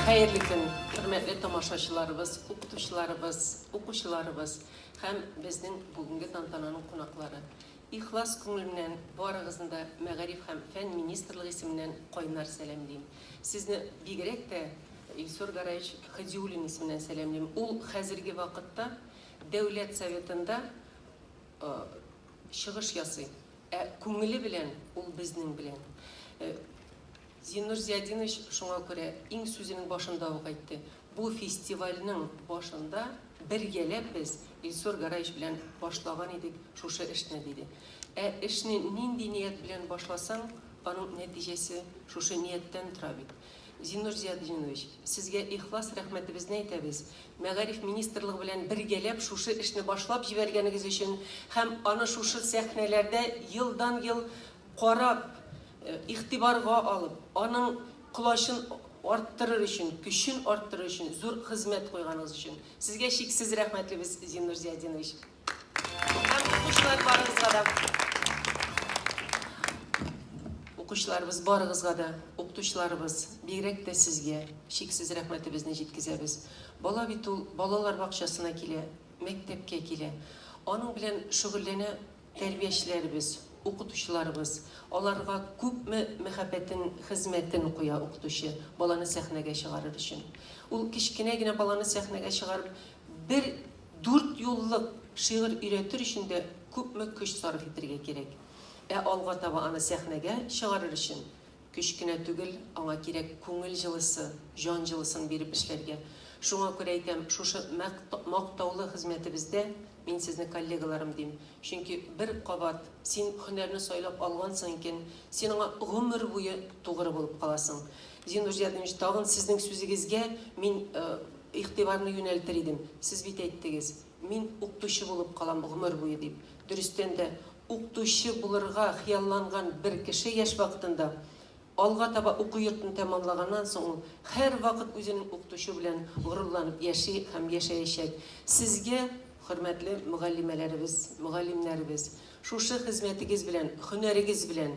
Хәерле көн, хөрмәтле тамашачыларыбыз, укытучыларыбыз, укучыларыбыз һәм безнең бүгенге тантананың кунаклары. Ихлас күңелемнән барыгызны да Мәгариф һәм фән министрлыгы исеменнән кайнар сәламлим. Сезне бигрәк тә Илсур Гәрәевич Хәдиуллин исеменнән сәламлим. Ул хәзерге вакытта Дәүләт Советында чыгыш ясый. Ә күңеле белән ул безнең белән. Зиннур Зиядинович шуңа күрә иң сүзенең башында ук әйтте, бу фестивальнең башында бергәләп без Илсур Гәрәевич белән башлаган идек шушы эшне, диде. Ә эшне нинди ният белән башласаң, аның нәтиҗәсе шушы нияттән тора бит. Зиннур Зиятдинович, Сезгә ихлас рәхмәтебезне әйтәбез, Мәгариф министрлыгы белән бергәләп шушы эшне башлап җибәргәнегез өчен һәм аны шушы сәхнәләрдә елдан-ел карап, игътибарга алып, аның колачын арттырыр өчен, көчен арттырыр өчен зур хезмәт куйганыгыз өчен. Сезгә чиксез рәхмәтлебез, Зиннур Зиятдинович. Һәм укучылар барыгызга да. Укучыларыбыз барыгызга да, укытучыларыбыз, бигрәк тә сезгә чиксез рәхмәтебезне җиткезәбез. Бала бит ул балалар бакчасына килә, мәктәпкә килә. Аның белән шөгыльләнә тәрбиячеләребез, укытучыларыбыз. Аларга күпме мәхәббәтен, хезмәтен куя укытучы, баланы сәхнәгә чыгарыр өчен. Ул кечкенә генә баланы сәхнәгә чыгарып, бер Дүртьюллык шигырь өйрәтер өчен дә күпме көч сарыф итәргә кирәк. Ә алга таба аны сәхнәгә чыгарыр өчен көч кенә түгел, аңа кирәк күңел җылысы, җан җылысын биреп эшләргә. Шуңа күрә әйтәм, шушы мактаулы хезмәтебездә мин сезне коллегаларым дим. Чөнки бер кабат син һөнәрне сайлап алгансың икән, син аңа гомер буе тугры булып каласың. Зинур Зиятович, тагын сезнең сүзегезгә мин игътибарны юнәлтер идем. Сез бит әйттегез, мин укытучы булып калам гомер буе дип. Дөрестән дә, укытучы булырга хыялланган бер кеше яшь вакытында, алга таба уку йортын тәмамлаганнан соң ул һәрвакыт үзенең укытучы белән горурланып яши һәм яшәячәк. Сезгә, хөрмәтле мөгаллимәләребез, мөгаллимнәребез, шушы хезмәтегез белән, һөнәрегез белән,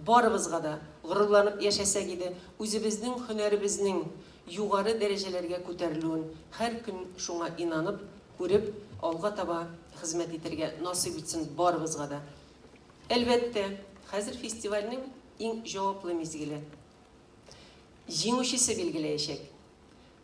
Барыбызга да горурланып яшәсәк иде, үзебезнең һөнәребезнең югары дәрәҗәләргә күтәрелүен һәр көн шуңа инанып, күреп, алга таба хезмәт итәргә насыйп итсен барыбызга да. Әлбәттә, хәзер фестивальнең иң җаваплы мизгеле. Җиңүчесе билгеләячәк.